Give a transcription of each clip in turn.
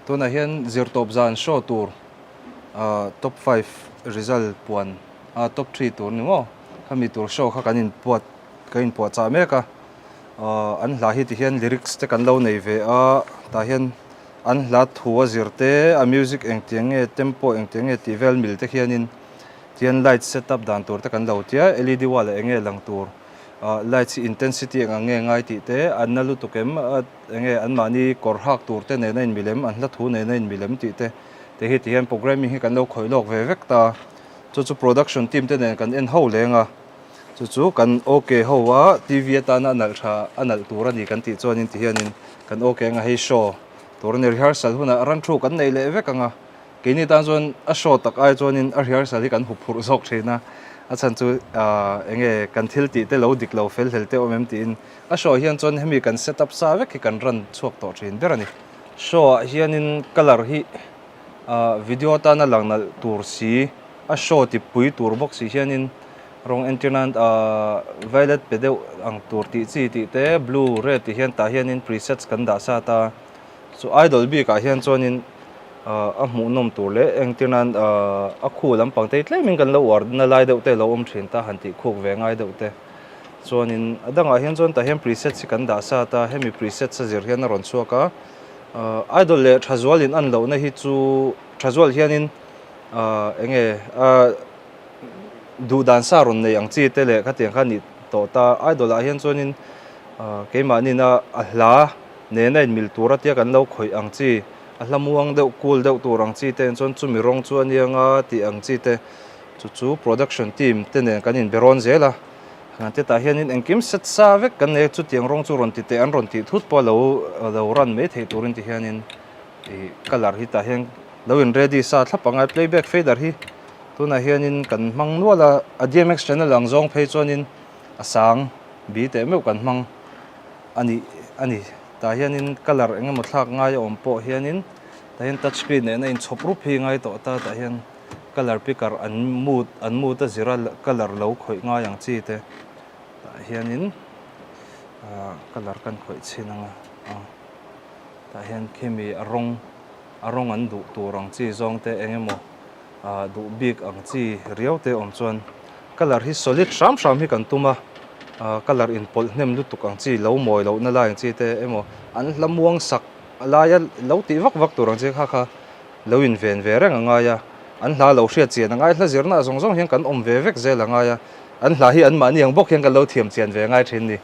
Tunah hian zirtawp zan show tur top five result puan a top three tur ni maw khami tur show kha kan inpuat kan inpuah chah mek a an hla hi ti hian lyrics te kan lo nei ve a tah hian an hla thu a zir te a music eng tiang nge tempo eng tiang nge tih vel mil te hianin tihian light setup dan tur te kan lo tia led wall ah enge lang tur. Lights i intensity eng ang nge ngai tih te an na lutuk em? Enge anmahni kawr hak tur te nena inmi lem, an hla thu nena inmi lem tih te? Te hi tihian programming hi kan lo khawih lawk ve vek ta. Chu chu production team te nen kan en ho leng a, chu chu kan ok ho a, TV atana a nalh tha a nalh tur a ni kan tih chuan in tihian in kan ok eng a hei show tur a ni. Rehearsal hunah ran thu kan nei leh vek ang a. Keini tan chuan a show tak ai chuanin a rehearsal hi kan huphurh zawk thin a, a chhan chu aah eng nge kan thil tih te lo dik lo fel hlel teh awm em tiin a show hian chuan hemi kan set up sa vek hi kan ran chhuak tawh thin ber a ni. Show ah hianin color hi aah video atana lang nalh tur si, a show ti pui tur bawk si hianin rawng entirna aah violet pe deuh ang tur tih chi tih te blue red tih hian tah hianin presets kan dah sa ta. Chu idol bikah hian chuanin a hmuhnawm tur leh engtirnan a khu lampang tei tlaimin kan lo uar na lai deuh te lo awm thin ta han tih khuk ve ngai deuh te. Chuanin a dangah hian chuan tah hian presets hi kan dah sat a, hemi presets a zir hian a rawn chhuak a. Idol leh tha zual in an lohna hi chu tha zual hianin eng nge a duh dan sa rawn nei ang chi te leh khatiang kha a nih tawh ta. Idol ah hian chuanin keimahnin a hla, nen a inmil tur atia kan lo khawih ang chi, a hlamuang deuh cool deuh tur ang chi te nen chuan chumi rawng chu a niang a tih ang chi te chu chu production team te nen kan inbe rawn zel a, hlan te tah hianin engkim set sa vek kan nei a chutiang rawng chu rawn ti teh an rawn tih thut pawh a lo lo run mai theih turin ti hianin ih colour hi tah hian lo in ready sa thlap angai playback fader hi tunah hianin kan hmang nual a a dmx channel ang zawng phei chuanin a sang bi teh meuh kan hmang. a nih a ni tah hianin colour eng emaw thlak ngai a awm pawh hianin tah hian touch screen nehna in chhawp rup hi ngai tawh ata tah hian colour picker an mut an mut a zira colour lo khawih ngai ang chi te tah hianin ah colour kan khawih chhin anga a tah hian khemi a rawng a rawng an duh tur ang chi zawng te eng emaw-- A duh bik ang chi riau te awm chuan colour hi solid hram hram hi kan tum a, colour inpawlh hnem lutuk ang chi lo mawi loh na lai ang chi te emaw an hlamuang sak laia lo tih vak vak tur ang chi kha kha lo inven ve reng a ngai a, an hla lo hriat chian a ngai hla zirna zawng zawng hian kan awm ve vek zel a ngai a, an hla hi anmahni ang bawk hian kan lo thiam chian ve ngai thin ni.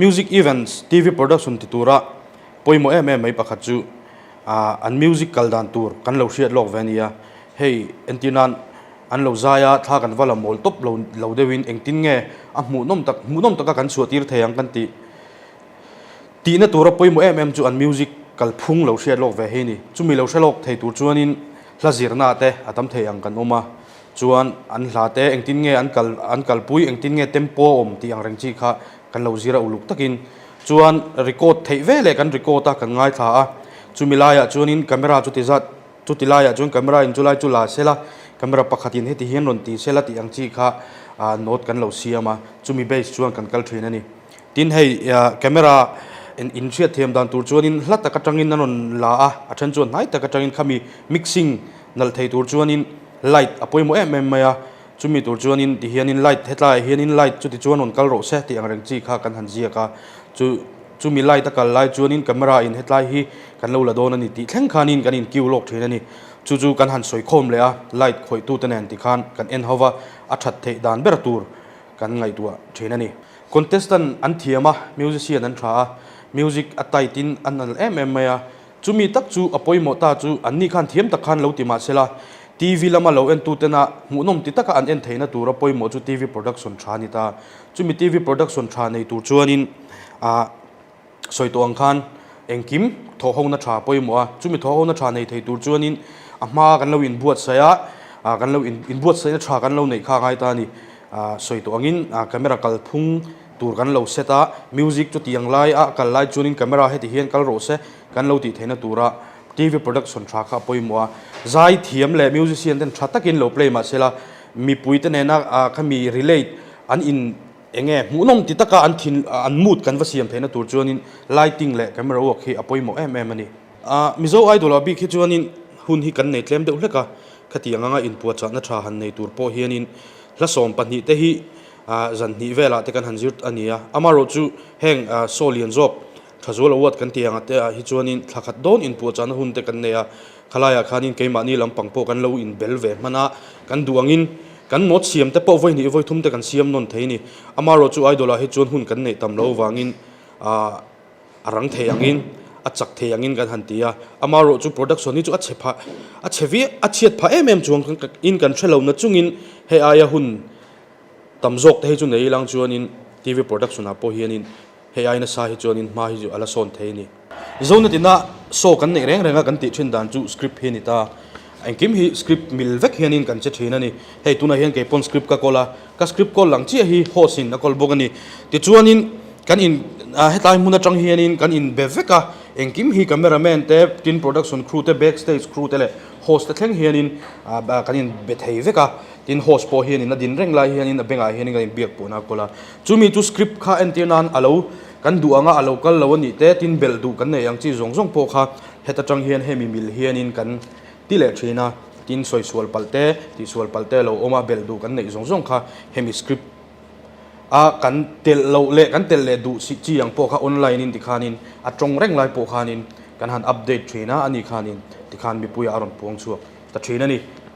Music Events, TV Production ti tura pawimawh em em mai pakhat chu an music kal dan tur kan lo hriat lawk ve a nia. Hei entir nan an lo zai a, thla kan va la mawl tawp lo deuhin engtin nge a hmuhnawm tak hmuhnawm taka kan chhuahtir thei ang kan tih? Tihna tura pawimawh em em chu an music kal phung lo hriat lawk ve hi ni. Chumi lo hre lawk thei tur chuanin hla zirna te a tam thei ang kan awm a, chuan an hla te engtin nge an kal an kalpui, engtin nge tempo a awm tih ang reng chi kha kan lo zir a uluk takin. Chuan record theih ve leh kan record a kan ngaithla a, chumi laiah chuanin camera chu tizat chuti laiah chuan camera in chulai chu la sel a, camera pakhatin heti hian rawn ti sel a tih ang chi kha note kan lo siam a, chumi base chuan kan kal thin a ni. Tin, hei camera in hriat thiam dan tur chuanin hla tak atangin an rawn la a, a then chuan hnai tak atangin khami mixing nalh thei tur chuanin light a pawimawh em em mai a, chumi tur chuanin tihianin light hetlaiah hianin light chuti chuan rawn kal rawh se tih ang reng chi kha kan han ziak a, chu chumi light a kal lai chuanin camera in hetlai hi kan lo la dawn a ni tih thleng khanin kan in kiu lawk thin a ni, chu chu kan han sawi khawm leh a, light khawihtu te nen ti khan kan en hova a that theih dan ber tur kan ngaihtuah thin a ni. Contestant an thiam a, musician an tha a, music a tight in a nalh em em mai a, chumi tak chu a pawimawh ta chu anni khan thiam tak khan lo ti mah sela TV lama lo en tutena hmuhnawm ti taka an en theihna tura pawimawh chu TV production tha a ni ta, chumi TV production tha nei tur chuanin a. Sawihtawng khan engkim thawhhona tha pawimawh a, chumi thawhhona tha nei thei tur chuanin a hma kan lo inbuatsaih a, kan lo inbuatsaihna tha kan lo neih kha a ngai ta a ni. Sawihtawngin camera kal phung tur kan lo set a, music chutiang lai a kal lai chuanin camera heti hian kal rawh se kan lo tih theihna tura TV production tha kha a pawimawh a. Zai thiam leh musician ten tha takin lo play mah sela mipui te nena khami relate an in Eng nge? Hmuhnawm ti taka an thin, an mood kan va siam theihna tur chuanin lighting leh camera work hi a pawimawh em em a ni. A, Mizo Idol-a bik hi chuanin hun hi kan nei tlem deuh hlek a, khati ang anga inpuahchahna tha han nei tur pawh hianin hla sawm pahnih te hi zan hnih velah te kan han zir a nia. Amarawh chu heng saw lian zawk tha zual award kan ti ang te ah hi chuanin thlakhat dawn inpuahchahna hun te kan nei a, Khalaiah khanin keimahni lampang pawh kan lo inbel ve hman a, kan duh angin kan mawt siam te pawh vawinih i vawithum te kan siam nawn thei ni. Amarawh chu idol-ah hi chuan hun kan neih tam lo avangin a rang thei angin, a chak thei angin kan han ti a. Amarawh chu production hi chu a chhe pha, a chhe viau, a chhiat pha em em chuang in kan hre lohna chungin hei aia hun tam zawk te hi chu nei i lang chuanin TV production-ah pawh hianin Hei aina sa hi chuan in hma hi chu a la sawn thei a ni. Zona tina saw kan neih reng reng a kan tih thin dan chu script hi a ni ta. Engkim hi script mil vek hianin kan che thin a ni. Hei tunah hian kei pawn script ka call a, ka script call lang chiah hi host in a call bawk a ni. Tichuanin kan in ah hetlai hmun atang hianin kan in be vek a, engkim hi camera man te, tin production crew te, back stage crew te leh host te thleng hianin ah kan in be thei vek a. Tin host pawh hianin a din reng lai hianin a bengah hianin kan in biak pawhna a call a. Chumi chu script kha entir nan a lo kan duh anga a lo kal lo a nih te, tin belh duh kan neih ang chi zawng zawng pawh kha heta tang hian hemi mil hianin kan ti leh thin a, tin sawi sual palh te, tih sual palh te a lo awm a, belh duh kan neih zawng zawng kha hemi script a kan telh loh leh kan telh leh duh si chi ang pawh kha online in tikhanin a tawng reng lai pawh khanin kan han update thin a, ani khanin tikhan mipuia a rawn puang chhuak ta thin a ni.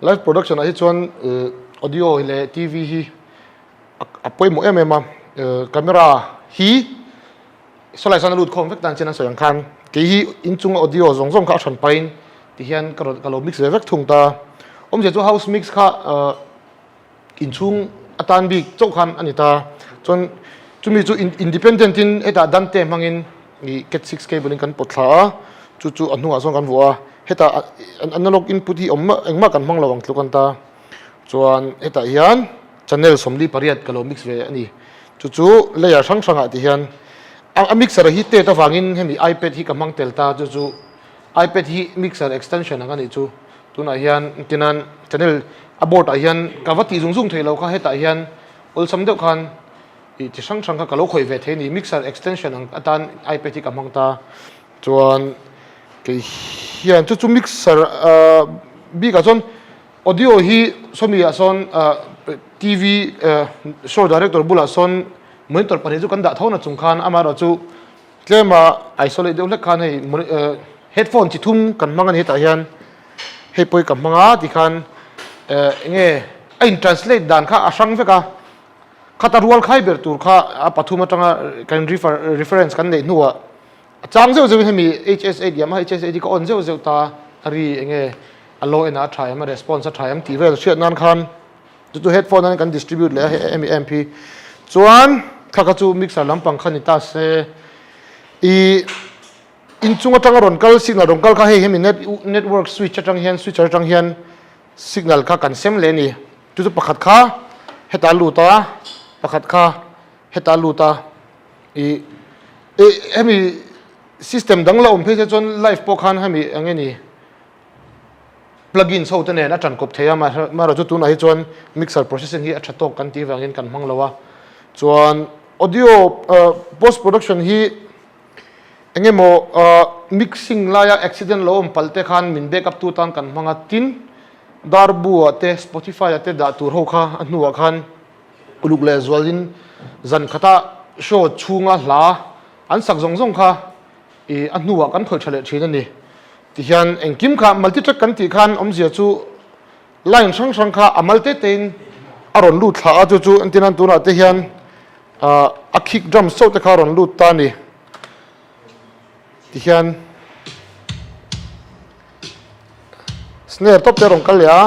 Live production ah hi chuan audio leh TV hi a pawimawh em em a, camera hi sawlai chuan a lut khawm vek dan chin an sawi ang khan kei hi inchunga audio zawng zawng kha a chhan pahin ti hian ka rawn ka lo mix ve vek thung ta, awmzia chu house mix kha. inchhung atan bik chauh khan a ni ta chuan chumi chu independent in hetah dante hmangin ih cat six cable in kan pawt thla a chu chu a hnungah sawn kan vuah a hetah analog input hi awm mah engmah kan hmang lo ang tlu kan ta chuan hetah hian channel sawmli pariat ka lo mix ve a ni chu chu layer hrang hrangah tih hian a mixer hi tet avangin hemi ipad hi ka hmang tel ta chu chu. Ipad hi mixer extension ang a nih chu, tunah hian tinan channel a board ah hian ka va tih zung zung theih lo kha hetah hian awlsam deuh khan ih chi hrang hrang kha ka lo khawih ve thei a ni, mixer extension ang atan ipad hi ka hmang ta chuan kei hian chu chu mixer bik ah chuan audio hi sony ah sawn TV show director bulah sawn monitor pahnih chu kan dah tho nachung khan amaherawhchu Tlem a isolate deuh hlek khan hei headphone chi thum kan hmang a ni hetah hian hei pawh hi ka hmang a tih khan eh enge a in translate dan kha a hrang vek a khat a rual khai ber tur kha a pathum atanga kan refer reference kan neih hnuah a chang zeuh zeuhin hemi h s eight yamaha h s eight hi ka on zeuh zeuh ta a ri enge a low end a a tha em a response a tha em tih vel hriat nan khan chu chu headphone an kan distribute leh a em em hi chuan thla kha chu mixer lampang kha ni ta se ih inchung atanga rawn kal signal rawn kal kha hei hemi net network switch atang hian switcher atang hian signal kha kan sem leh a ni chu chu pakhat kha heta a lut a pakhat kha heta a lut a ih ih hemi system dang la awm phei se chuan live pawh khan hemi eng nge ni. Plugins ho te nen a ṭan kawp thei a, mahra chu tunah hi chuan mixer processing hi a ṭha tawk kan tih vangin kan hmang lo a. Chuan audio post production hi eng emaw mixing laia accident lo awm palte khan min back up tu atan kan hmang a, tin Darbu ah te Spotify ah te dah tur ho kha a hnuah khan uluk leh zualin zan khata show chhunga hla an sak zawng zawng kha. I a hnuah kan khawih tha leh thin a ni. Tihian engkim kha multi track kan tih khan awmzia chu line hrang hrang kha a mal te tein a rawn lut thla a chu chu entirnan tunah te hian ah a kick drum sauh te kha a rawn lut ta a ni. Tihian. Snare top te rawn kal leh a.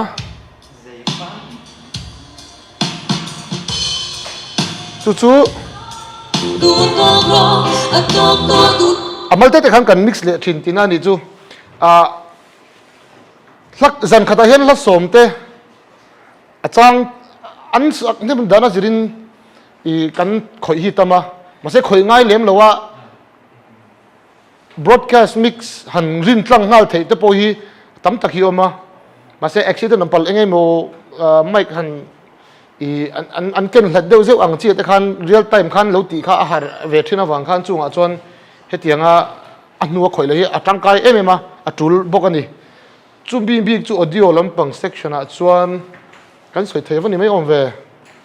Chu chu A malte te khan kan mix leh thin tina ni chu ah hla zan khatah hian hla sawm te a chang an hnim dana zir in ih kan khawih hi tam a mahse khawih ngai lem lo a. Broadcast mix han rin tlang nghal theih te pawh hi tam tak hi a awm a, mahse accident an pal eng nge maw mic han ih an ken hlat deuh zeuh ang chi te khan real time khan lo tih kha a har ve thin avang khan chungah chuan hetiang a a hnua khawih loh hi a tangkai em em a a tul bawk a ni. Chumi bik chu audio lampang section ah chuan kan sawi thei va ni mai awm ve.